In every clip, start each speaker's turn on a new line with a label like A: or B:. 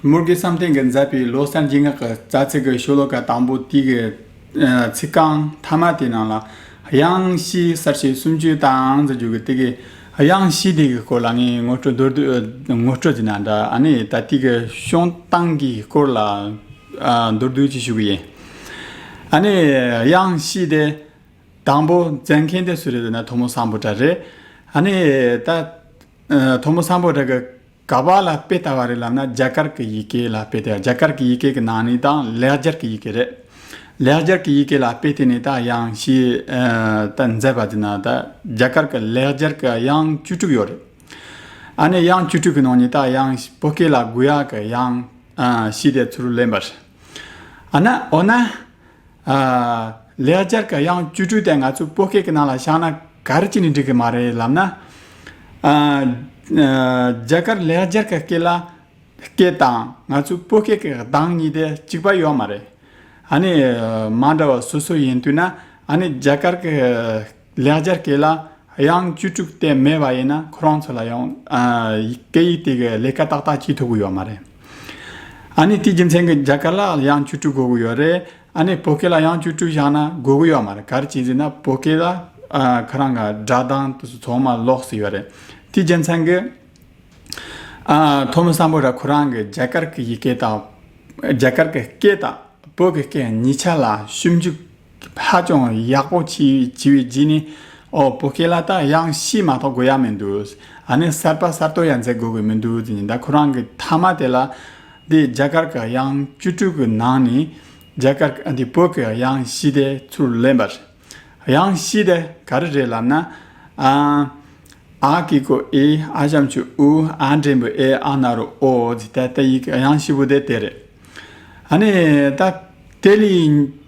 A: མོར་གྱི་བསམ་གཏན་གྱི་མཛད་པའི་ལོ་གསར་འཇིགས་སྔགས་ཀྱི་རྩ་ཚིག་གི་ཤོ་ལོ་ཀ་དང་པོ་དུས་ཀྱི་ཚིག་རྐང་མཐའ་མ་དེ་རྣམས་ལ། དབྱངས་གཞིའི་གསར་བཤད་སུམ་ཅུའི་དང་རྩ་རྒྱུད་ཀྱི་སྟེ། དབྱངས་གཞི་དེ་གི་སྐོར་ལ་ངས་ངོ་སྤྲོད་མདོར་བསྡུས་ངོ་སྤྲོད་བྱས་ན་འདྲ། ནི་ད་ལྟའི་གི་གཤོང་སྟངས་ཀྱི་སྐོར་ལ་མདོར་བསྡུས་ཅིག་ཞུ་གི་ཡིན། ནི་དབྱངས་གཞི་དེ་དང་པོ་མཛད་མཁན་དེ་སུ་རེད་ཟེར་ན་དོ་མོ་བཟང་པོ་གྲགས་རེད། ནི་ད་དོ་མོ་བཟང་པོ་གྲགས་ཀྱི། ག་པར་ལ་དཔེ་ལྟ་བ་རེད་ལབ་ན་རྒྱ་གར་གི་ཡི་གེ་ལ་དཔེ་ལྟས་རྒྱ་གར་གི་ཡི་གེ་གི་ནང་ནས་དང་ལེགས་སྦྱར་གི་ཡི་གེ་རེད། ལེགས་སྦྱར་གི་ཡི་གེ་ལ་དཔེ་ལྟས་ནས་ད་དབྱངས་ཞེས་ད་མཛད་པ་དེ་ན་ད་རྒྱ་གར་གི་ལེགས་སྦྱར་གི་དབྱངས་བཅུ་དྲུག་ཡོད་རེད། ཨ་ནི་དབྱངས་བཅུ་དྲུག་གི་ནང་ནས་ད་དབྱངས་བོད་སྐད་ལ་དགུ་ཡག་གི་དབྱངས་ཞེས་དེ་ཚུར་ལེན་པ་རེད། ཨ་ན་འོ་ན། ལེགས་སྦྱར་གྱི་དབྱངས་བཅུ་དྲུག་དེ་ང་ཚོའི་སྤོ་སྐད་ཀྱི་ནང་ལ་བཞག་ན་ག་རེ་བྱས་ནས་འགྲིག་གི་མ་རེད་ལབ་ན། རྒྱ་གར་ལེགས་སྦྱར་གྱི་སྐད་ལ་སྐད་དང་ང་ཚོའི་སྤོ་སྐད་ཀྱི་གདངས་གཉིས་དེ་གཅིག་པ་ཡོད་མ་རེད། ཨ་ནི་མ་འདྲ་བ་སོ་སོ་ཡིན་དུས་ན་ཨ་ནི་རྒྱ་གར་གྱི་ལེགས་སྦྱར་སྐད་ལ་དབྱངས་བཅུ་དྲུག་སྟེ་མེད་པ་ཡིན་ན་ཁོ་རང་ཚོ་ལ་ཡང། སྐད་ཡིག་དེ་གའི་ལས་ཀ་ཏག་ཏག་བྱེད་ཐུབ་ཀྱི་ཡོད་མ་རེད། ཨ་ནི་དེའི་རྒྱུ་མཚན་གྱིས་རྒྱ་སྐད་ལ་དབྱངས་བཅུ་དྲུག་དགོས་ཀྱི་ཡོད་རེད། ཨ་ནི་བོད་སྐད་ལ་དབྱངས་བཅུ་དྲུག་བཞག་ན་དགོས་ཀྱི་ཡོད་མ་རེད་ག་རེ་བྱས་ཟེར་ན་བོད་སྐད་ལ་ཁོ་རང་གི་སྒྲ་གདངས་ཚང་མ་ལོག་སྲིད་ཡོད་རེད། དེའི་རྒྱུ་མཚན་གྱིས། ཐོག་མ་བསམ་བོད་ར་ཁོ་རང་གི་རྒྱ་གར་གྱི་ཡི་གེ་དང། རྒྱ་གར་གྱི་སྐད་དང་བོད་ཀྱི་སྐད་གཉིས་ཆ་ལ་ཞིབ་འཇུག། ཧ་ཅང་ཡག་པོ་བྱས་བྱས་པའི་རྗེས་ནས་ཨོ་བོད་སྐད་ལ་ད་དབྱངས་གཤིས་མ་གཏོགས་དགོས་ཡག་མི་འདུག་ཨ་ནི་གསར་པ་གསར་གཏོད་ཡག་མཛད་དགོས་གི་མི་འདུག་དེ་ནི་ད་ཁོ་རང་གི་མཐའ་མ་དེ་ལ་འདི་རྒྱ་གར་གི་དབྱངས་བཅུ་དྲུག་གི་ནང་ནས་རྒྱ་གར་འདི་བོད་ཀྱི་དབྱངས་གཤིས་དེ་ཚུར་ལེན་པ་རེད་དབྱངས་གཤིས་དེ་ག་རེ་རེད་ལབ་ན་ཨ་ཨ་ཀི་ཀོ་ཨི་ཨ་བྱམས་ཆུ་ཨུ་ཨ་འབྲས་བུ་ཨེ་ཨ་ན་རོ་ཨོ་ཨོ་དེ་ད་ད་ཡིག་གི་དབྱངས་གཤིས་པོ་དེ་དེ་རེད་ཨ་ནི་ད་དེ་ལས་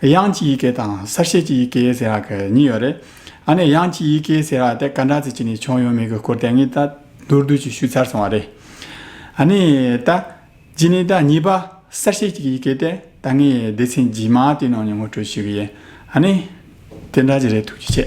A: དབྱངས་ཀྱི་ཡི་གེ་དང་གསར་བཤད་ཀྱི་ཡི་གེ་ཟེར་བ་གི་གཉིས་ཡོད་རེད། ཨ་ནི་དབྱངས་ཀྱི་ཡི་གེ་ཟེར་བ་དེ་ག་འདྲ་ཚིག་ཅིག་ནས་བྱུང་ཡོད་མེད་ཀྱི་སྐོར་དེ་གཉིས་ད་མདོར་བསྡུས་ཀྱིས་ཞུས་ཚར་སོང་བ་རེད། ཨ་ནི་ད་གཞི་ནས་ད་གཉིས་པ་གསར་བཤད་ཀྱི་ཡི་གེ་དེ་ད་ངའི་སྡེ་ཚན་རྗེས་མ་དེའི་ནང་ནས་ངོ་སྤྲོད་ཞུས་ཀྱི་ཡིན། ཨ་ནི། དེ་འདྲ་ཅིག་རེད་ཐུགས་རྗེ་ཆེ།